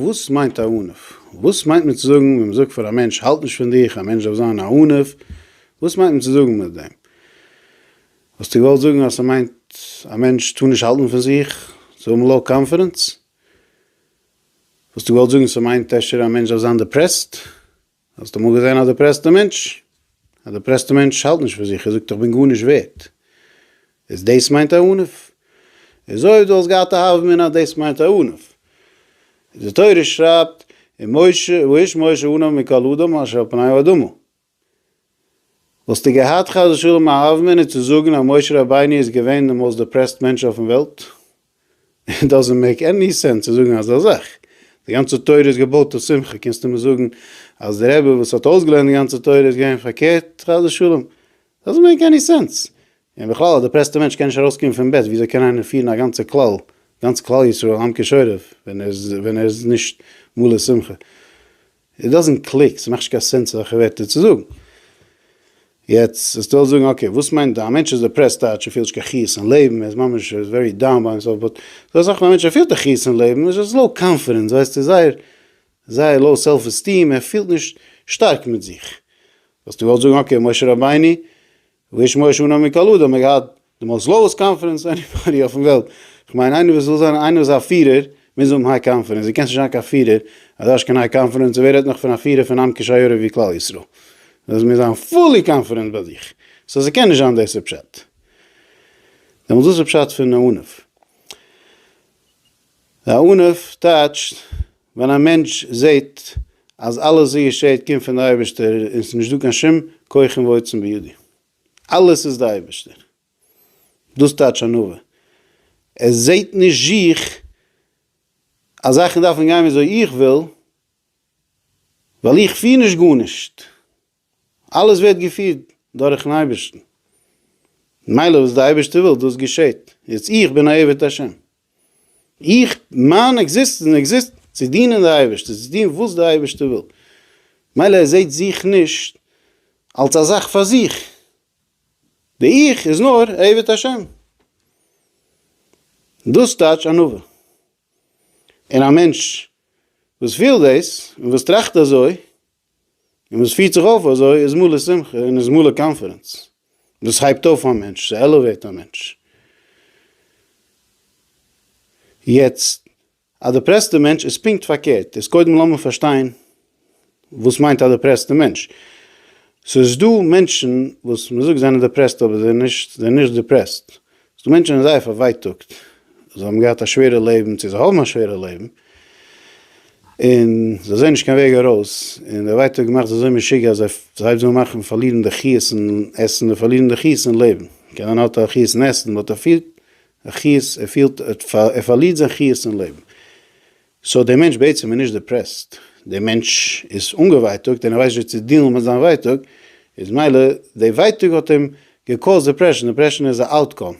וואס מיינט א ענף? וואס מיינט מען צו זאגן ווען מען זאגט פאר א מענטש האלט נישט פון דיך, א מענטש דארף זיין א ענף, וואס מיינט מען צו זאגן מיט דעם? וואלסטו געוואלט זאגן אז ס'מיינט א מענטש טאר נישט האלטן פון זיך, צו האבן לאו קאנפידענס? וואלסטו געוואלט זאגן ס'מיינט אפשר א מענטש דארף זיין דעפרעסט? האסט אמאל געזען א דעפרעסטע מענטש? א דעפרעסטע מענטש האלט נישט פאר זיך, ער זאגט איך בין גארנישט ווערט. איז דאס מיינט א ענף? איז אויב דו האסט געהאט א הווא אמינא דאס מיינט א ענף. די תורה שרייבט, ומשה, ואיש משה ענוה מכל אדם אשר על פני האדמה. וואלסטו געהאט חס ושלום א האוומענער צו זאגן אז משה רבינו איז געווען די מאוסט דעפרעסט מענטש אויפן וועלט? איט דאזענט מעיק עני סענס צו זאגן אזא זאך. די גאנצע תורה איז געבויט אויף שמחה, קענסטו מיר זאגן אז די רבי וואס האט אויסגעלערנט די גאנצע תורה איז געווען פארקערט? חס ושלום. דאזענט מעיק עני סענס. און בכלל א דעפרעסטע מענטש קען נישט ארויסקומען פון בעט, וויאזוי קען איינער פירן א גאנצע כלל, גאנץ כלל ישראל עם כשורף, ווען ער איז נישט מלא שמחה? איט דאזענט קליק, ס'מאכט נישט קיין סענס אזעלכע ווערטער צו זאגן. יעצט וועסטו אלס זאגן אקעי וואס מיינט א מענטש איז דעפרעסט טייטש ער פילט נישט קיין חיות אין לעבן, ער איז ממש ווערי דאון ביי הימסעלף, באט זאל זאגן א מענטש ער פילט א חיות אין לעבן, איז עס לאו קאנפידענס, ווייסט איז זייער זייער לאו סעלף עסטיעם, ער פילט נישט שטארק מיט זיך. וואלסטו געוואלט זאגן אקעי משה רבינו ולשמוע שנה מקלו דא האט מען געהאט די מאלס לאוס קאנפרענס עניבאדי אויפן וועלט איך מיין איינער וואס וויל זיין איינער וואס א פירער מוז האבן היי קאנפרענס דו קענסט נישט זיין קיין פירער אז דו האסט קיין היי קאנפרענס און ווער רעדט נאך פון א פירער פון עם קשיורא ווי כלל ישראל דאס מוז זיין פולי קאנפרענס ביי זיך סא ס'קען נישט זיין דאס איז פשט דעמאלס וואס איז פשט פון אהנעוו? אהנעוו טייטשט. ווען א מענטש זעהט אז אלעס וואס געשעהט קומט פון די אייבערשטער און ס'נישט דא קיין שום כוחים ועוצם בידי, אלעס איז די אייבערשטער, דאס טייטש ענווה, ער זעהט נישט זיך אז זאכן דארפן גיין וויאזוי איך וויל, ווייל איך פיר נישט גארנישט. אלעס ווערט געפירט דורכ'ן אייבערשטן, ממילא וואס דער אייבערשטער וויל דאס געשעט, יעצט איך בין א עבד השם, איך, מיין עקזיסטענץ עקזיסט צו דינען די אייבערשטער, צו טון וואס דער אייבערשטער וויל, מילא ער זעט זיך נישט אלס א זאך פאר זיך, די 'איך' איז נאר א עבד השם, דאס טייטש ענווה, און א מענטש וואס וויל דאס און וואס טראכט אזוי און וואס פירט זיך אויף אזוי איז מלא שמחה און איז מלא קאנפידענס. דאס הייבט אויף א מענטש, ס'עלעוועיט א מענטש. יעצט, א דעפרעסטע מענטש איז פונקט פארקערט. איז קודם לאמיר פארשטיין וואס מיינט א דעפרעסטע מענטש. ס'איז דא מענטשן וואס מ'זאגט זיי זענען דעפרעסט אבער זיי זענען נישט דעפרעסט. ס'דא מענטשן ווען זייער פארווייטאגט, זיי האבן געהאט א שווערע לעבן, צו זיי האבן א שווערע לעבן, און זיי זעען נישט קיין וועג ארויס, און דער ווייטאג מאכט זיי אזוי משוגע אז זיי ס'הייבט זיי אן מאכן פארלירן די חיות אין עסן, זיי פארלירן די חיות אין לעבן, קיין איינער האט א חיות אין עסן, באט ער פילט א חיות, ער פילט ער פארלירט זיין חיות אין לעבן. סאו דער מענטש בעצם איז נישט דעפרעסט, דער מענטש איז אנגעווייטאגט און ער ווייסט נישט צו דיעלן מיט זיין ווייטאג, איז מילא די ווייטאג האט אים געקאוזט דעפרעשן, דעפרעשן איז א אוטקאם,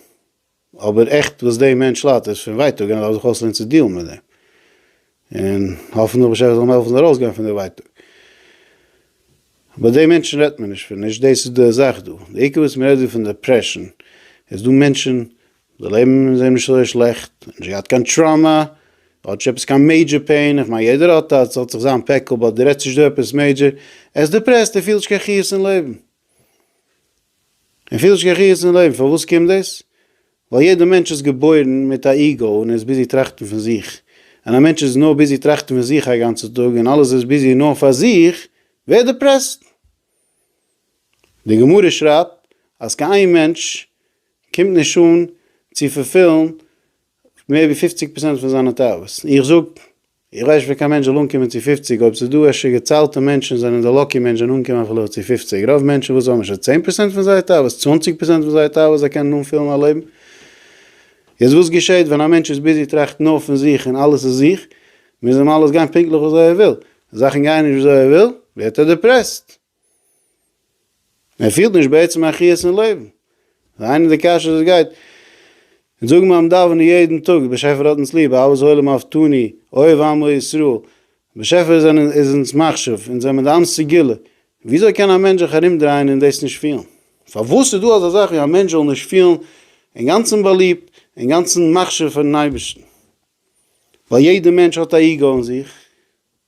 אבער עכט וואס דעם מענטש ליידט איז פון ווייטאג און ער דארף זיך אויסלערנען צו דיעלן מיט דעם, און האפן דער באשעפער זאל אים העלפן ארויסגיין פון די ווייטאג. ביי די מענטשן רעדט מען נישט פון, נישט דאס איז די זאך דא, די עיקר וואס מען רעדט דא פון דעפרעשן, איז דא מענטשן די לעבן איז אים נישט אזוי שלעכט, ער האט נישט געהאט קיין טראמא, אדער נישט עפעס קיין מעידזשער פעין, איך מיין יעדער האט אז ס'האט זיך זיין פעקל באט די רעדסט נישט דא עפעס מעידזשער, ער איז דיפרעסט ער פילט נישט קיין חיות אין לעבן, ער פילט נישט קיין חיות אין לעבן, פארוואס קומט דאס? ווייל יעדע מענטש איז געבוירן מיט א איגאו און ער איז ביזי טראכטן פון זיך, ווען א מענטש איז נאר ביזי טראכטן פון זיך א גאנצע טאג און אלעס איז ביזי נאר פאר זיך ווערט ער דיפרעסט, די גמרא שרייבט אז קיין איין מענטש קומט נישט אן צו פולפילן מער ווי פופציג פראצענט פון זיינע תאוות, און איך זאג, איך ווייס נישט ווי קיין מענטש זאל אנקומען צו פופציג, אויב ס'איז דא אפשר געציילטע מענטשן זענען די לאקי מענטש זענען אנגעקומען אפילו צו פופציג, רוב מענטשן וואס האבן נישט צען פראצענט פון זייער תאוות, צוואנציג פראצענט פון זייער תאוות, זיי קענען אנפילן א לעבן. יעצט וואס געשעט ווען א מענטש איז ביזי טראכטן נאר פון זיך און אלעס איז זיך, מוז אים אלעס גיין פונקטליך וויאזוי ער וויל, זאכן גייען נישט וויאזוי ער וויל, ווערט ער דעפרעסט. ער פילט נישט בעצם א חיות אין לעבן. והיינו די קשיא וואס גייט אונז זאגן ביים דאווענען יעדן טאג, באשעפער האט אונז ליב, אהבת העולם אהבתני, אוהב עמו ישראל, באשעפער איז אונז מחשיב, אונז זעמיר דיין סגולה, וויאזוי קען א מענטש זיך ארומדרייען און דאס נישט פילן? פארוואס איז דא אזא זאך ווי א מענטש זאל נישט פילן אינגאנצן באליבט, אינגאנצן מחשיב פאר'ן אייבערשטן? ווייל יעדער מענטש האט א איגו אין זיך.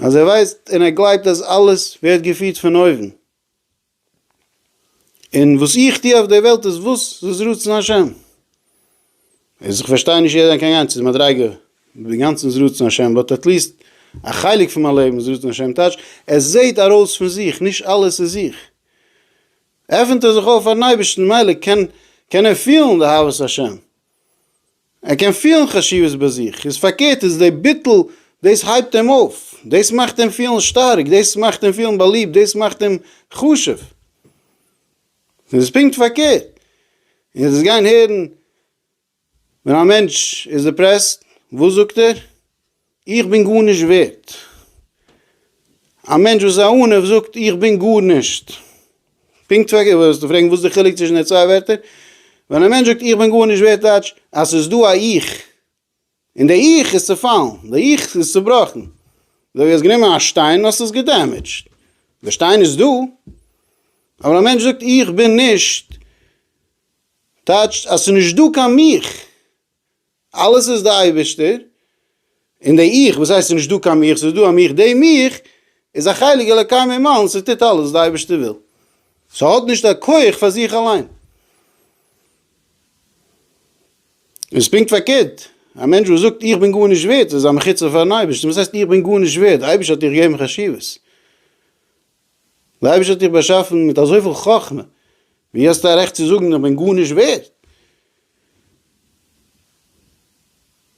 אז ער ווייסט און ער גלייבט אז אלעס ווערט געפירט פון אויבן, און וואס איך טו אויף דער וועלט איז וואס איז רצון השם, איז איך פארשטיי נישט ווי ער דען קען גיין צו די מדריגה אינגאנצן איז רצון השם באט עטליסט א חלק פון מיין לעבן איז רצון השם טייטש עס זעהט ארויס פון זיך נישט אלעס איז איך עפנט ער זיך אויף פארן אייבערשטן ממילא קען קען ער פילן די אהבת השם ער קען פילן חשיבות ביי זיך, איז פארקערט איז די ביטול דאס הייבט אים אויף, דאס מאכט אים פילן שטארק, דאס מאכט אים פילן באליבט, דאס מאכט אים חשוב, און איז פונקט פארקערט, און עטס גיין הערן ווען א מענטש איז דיפרעסט וואס זאגט ער? איך בין גארנישט ווערט. א מענטש וואס איז א ענו זאגט איך בין גארנישט. פונקט ווי אגב וועסטו פרעגן וואס איז די חילוק צווישן די צוויי ווערטער. ווען א מענטש זאגט איך בין גארנישט ווערט טייטש אז ס'איז דא א 'איך' און די 'איך' איז צעפאלן, די 'איך' איז צעבראכן. אזוי ווי האסט גענומען א שטיין און האסט עס געדעמעדזשט. די שטיין איז דא. אבער א מענטש זאגט איך בין נישט טייטשט אז ס'איז נישט דא קיין 'מיך'. אלעס איז די אייבערשטער, און די 'איך', וואס הייסט ס'איז נישט דא קיין 'מיך', ס'איז דא א 'מיך', דעם 'איך' איז א חלק אלוקי ממעל און ס'טוט אלעס וואס די אייבערשטער וויל, ס'האט נישט א כח פאר זיך אליין. און ס'איז פונקט פארקערט, א מענטש וואס זאגט 'איך בין גארנישט ווערד' איז א מחיצה פארן אייבערשטן, וואס הייסט 'איך בין גארנישט ווערד', די אייבערשטער האט דיך געגעבן חשיבות. דער אייבערשטער האט דיך באשאפן מיט אזויפיל חכמה, ווי האסטו א רעכט צו זאגן איך בין גארנישט ווערד?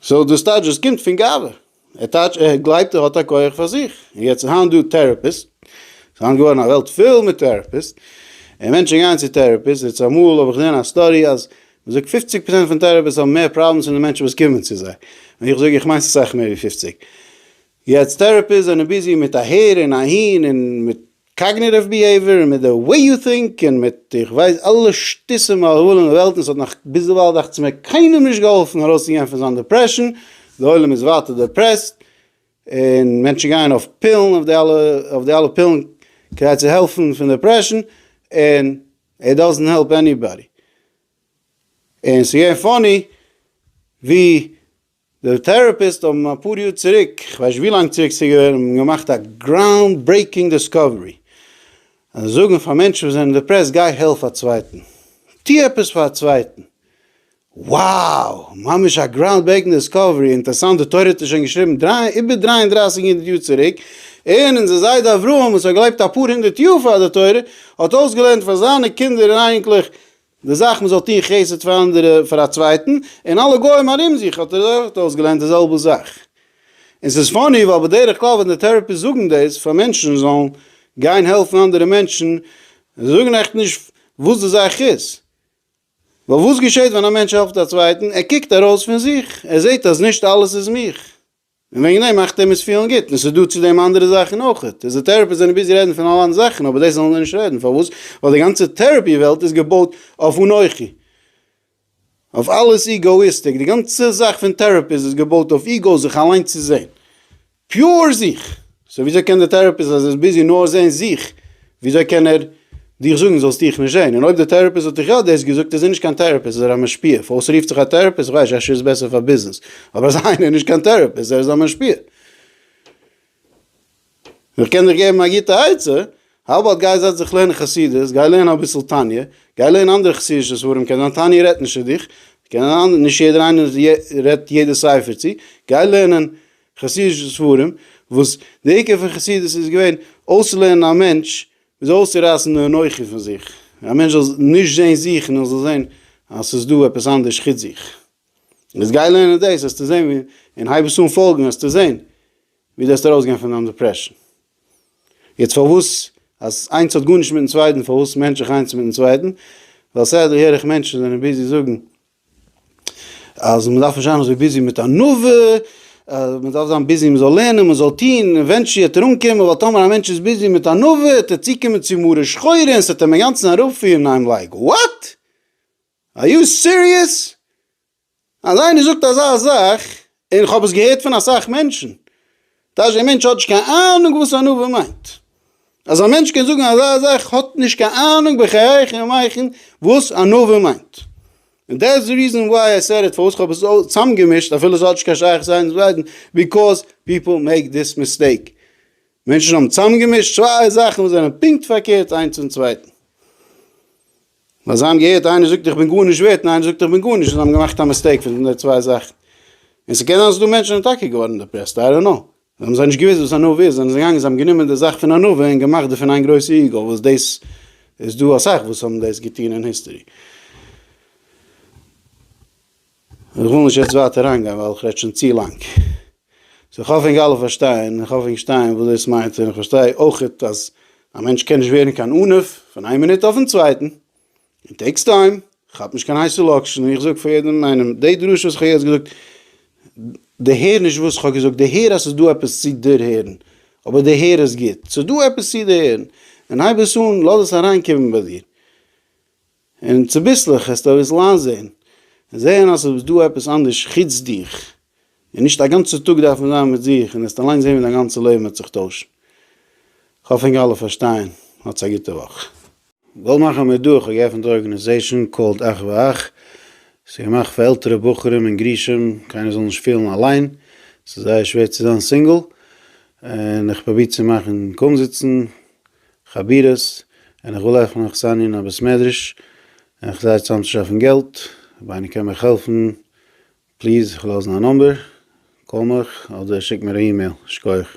סאו דאס טייטש דאס קומט פון גאווה, ער טייטש ער גלייבט ער האט א כח פאר זיך, און יעצט איז היינט דא טעראפיסט, ס'איז היינט געווארן א וועלט פיל מיט טעראפיסט, און מענטשן גייען צו טעראפיסט, און צומאל האב איך געזען א סטאדי אז מען זאגט פופציג פראצענט פון טעראפיסט האבן מער פראבלעמס ווי די מענטשן וואס קומען צו זיי, און איך זאג איך מיין ס'איז סאך מער ווי פופציג. יעצט טעראפיסט זענען ביזי מיט אהער און אהין און מיט קאגניטיוו ביהעיווער און מיט די וועי יו טינק און מיט איך ווייס אלע שטות און מהללים אין וועלט און ס'האט נאך ביזדערווייל דאכצמער קיינעם נישט געהאלפן ארויסצוגיין פון זיין דעפרעשן, די עולם איז ווייטער דעפרעסט און מענטשן גייען אויף פילן אויף די אלע אויף די אלע פילן כדי צו העלפן פון דעפרעשן און איט דאזענט העלפ עניבאדי און ס'געווען פאני ווי די טעראפיסט האבן אפאר יאר צוריק, כ'ווייס נישט ווי לאנג צוריק ס'איז געווען, האבן געמאכט א גראונד ברעיקינג דיסקאווערי, אז זיי זאגן פאר מענטשן וואס זענען דעפרעסט, גיי העלף א צווייטן, טו עפעס פאר א צווייטן. wow! ממש א גראונד ברעיקינג דיסקאווערי, אינטערעסאנט די תורה האט עס שוין געשריבן איבער דרײַ און דרײַסיק הונדערט יאר צוריק, און אונזער זיידע אברהם וואס האט געלעבט אפאר הונדערט יאר פאר די תורה, האט אויסגעלערנט פאר זיינע קינדער און אייניקלעך די זאך מ'זאל טון חסד פאר אנדערע פאר א צווייטן, און אלע גוים ארום זיך האט ער אויך אויסגעלערנט די זעלבע זאך. און ס'איז פאני ווייל בדרך כלל ווען די טעראפיסט זאגן דאס פאר מענטשן זאלן גיין העלפן אנדערע מענטשן, זיי זאגן עכט נישט וואס די זאך איז. ווייל וואס געשעט ווען א מענטש העלפט א צווייטן? ער קוקט ארויס פון זיך, ער זעט אז נישט אלעס איז מיך. און וועגן דעם מאכט אים עס פילן גוט, און עס איז דא צו דעם אנדערע זאכן אויך, פיזיטערעפיסט זענען ביזי רעדן פון אלע אנדערע זאכן אבער דאס זאלן זיי נישט רעדן, פארוואס? ווייל די גאנצע טעראפי וועלט איז געבויט אויף אנכי, אויף אלעס איגאאיסטיק, די גאנצע זאך פון טעראפיסט איז געבויט אויף איגאו, זיך אליין צו זען, פיור זיך. סאו וויאזוי קען די טעראפיסט אז ער איז ביזי נאר זעהן זיך, וויאזוי קען ער דיך זאגן זאלסט דיך נישט זעהן? און אויב די טעראפיסט האט דיך יא דאס געזאגט איז ער נישט קיין טעראפיסט איז ער א משפיע, פארוואס רופט זיך א טעראפיסט? כ'ווייס נישט אפשר איז בעסער פאר ביזנעס, אבער אזא איינער איז נישט קיין טעראפיסט ער איז א משפיע. איך קען דיך געבן א גוטע עצה, האו אבאוט גיי זעץ דיך לערנען חסידות, גיי לערן אביסל תניא, גיי לערן אנדערע חסידישע ספרים, קען זיין תניא רעדט נישט צו דיך, קען זיין נישט יעדער איינער רעדט יעדע ספר צו, גיי לערנען חסידישע ספרים, וואס די עיקר פון חסידות איז געווען אויסצולערנען א מענטש ווי אזוי אויסצורייסן די אנוכי פון זיך, א מענטש זאל נישט זען זיך נאר זאל זען אז ס'איז דא עפעס אנדערש חוץ זיך. יעצט גיי לערנען דאס וועסטו זען ווי און הייב עס אן פאלגן וועסטו זען ווי דו וועסט ארויסגיין פון דיין דעפרעשן. יעצט פארוואס אז איינס האט גארנישט מיטן צווייטן פארוואס מענטש איך איינס מיטן צווייטן, ווייל סדר הער איך מענטשן זענען ביזי זאגן אז מען דארף נישט זיין אזוי ביזי מיט ענווה, מען דארף זיין ביזי מען זאל לערנען מען זאל טוהן, עווענטשעלי וועט ער אנקומען, ווייל טאמער א מענטש איז ביזי מיט ענווה וועט ער צוקומען צו מרה שחורה און ס'וועט אים אינגאנצן אראפפירן, איים לייק וואט? אר יו סיריעס? אז איינער זאגט אזא זאך און כ'האב עס געהערט פון אסאך מענטשן, טאש דער מענטש האט נישט קיין אהנונג וואס ענווה מיינט, אז א מענטש קען זאגן אזא זאך האט נישט קיין אהנונג בחייכם ומייכם וואס ענווה מיינט, און דעטס די ריזען וויי איי סעד איט, פארוואס כ'האב עס צאמגעמישט אפילו ס'האט נישט קיין שייכות איינס מיט צווייטן, ביקאוז פיפל מעיק דיס מיסטעיק, מענטשן האבן צאמגעמישט צוויי זאכן וואס זענען פונקט פארקערט איינס צום צווייטן. נאר זיי האבן געהערט איינער זאגט איך בין גארנישט ווערט און איינער זאגט איך בין גארנישט און זיי האבן געמאכט א מיסטעיק פון די צוויי זאכן. און ס'קען זיין אז ס'דא מענטשן וואס זענען טאקע געווארן דעפרעסט, איי דאנט קנאו. זיי האבן זיי נישט געוואוסט וואס ענווה איז, זענען זיי געגאנגען זיי האבן גענומען די זאך פון ענווה און געמאכט דערפון איין גרויסע איגו וואס דאס איז דא אסאך וואס האבן דאס געטון אין היסטערי. איך וויל נישט יעצט ווייטער אריינגיין ווייל איך רעד שוין צו לאנג. סאו איך האף ענק אלע פארשטייען, איך האף ענק שטייען וואס דאס מיינט, און איך פארשטיי אויכעט אז א מענטש קען נישט ווערן קיין ענף פון איין מינוט אויפן צווייטן, און טעיקס טיים, כאפ נישט קיין הייסע לאקשן, און איך זאג פאר יעדעם איינעם, די דרשה וואס איך האב יעצט געזאגט, דערהער נישט וואס איך האב געזאגט, דערהער אז ס'איז דא עפעס צו דערהערן, אבער דערהער עס גוט, ס'איז דא עפעס צו דערהערן, און הייב עס אן, לאז עס אריינקומען ביי דיר. און צוביסלעך העסטו אויסלאזען און זעהן אז עס איז דא עפעס אנדערש חוץ דיך, און נישט א גאנצע טאג דארף מען זיין מיט זיך, און עסט אליין זעהן ווי דיין גאנצע לעבן וועט זיך טוישן. כ'האף ענק אלע פארשטייען. האטס א גוטע וואך. גאלד מאכער מיט דא, כ'האב געעפענט א ארגענעזעישאן קאלד אך ואך, עס איז געמאכט פאר עלטערע בחורים און גרושים, קיינער זאל נישט פילן אליין, עס איז זייער שווער צו זיין סינגל, און איך פרוביר צו מאכן קומזיצן. חבירות, און איך וויל אויך מאך זיין אין א בית מדרש, און איך זיי צאם צו שאפן געלט, אויב איינער קען מיך העלפן, פליז איך וועל לאזן א נאמבער, קאל מיך, אדער שיק מיר א אימעיל, שקויעך.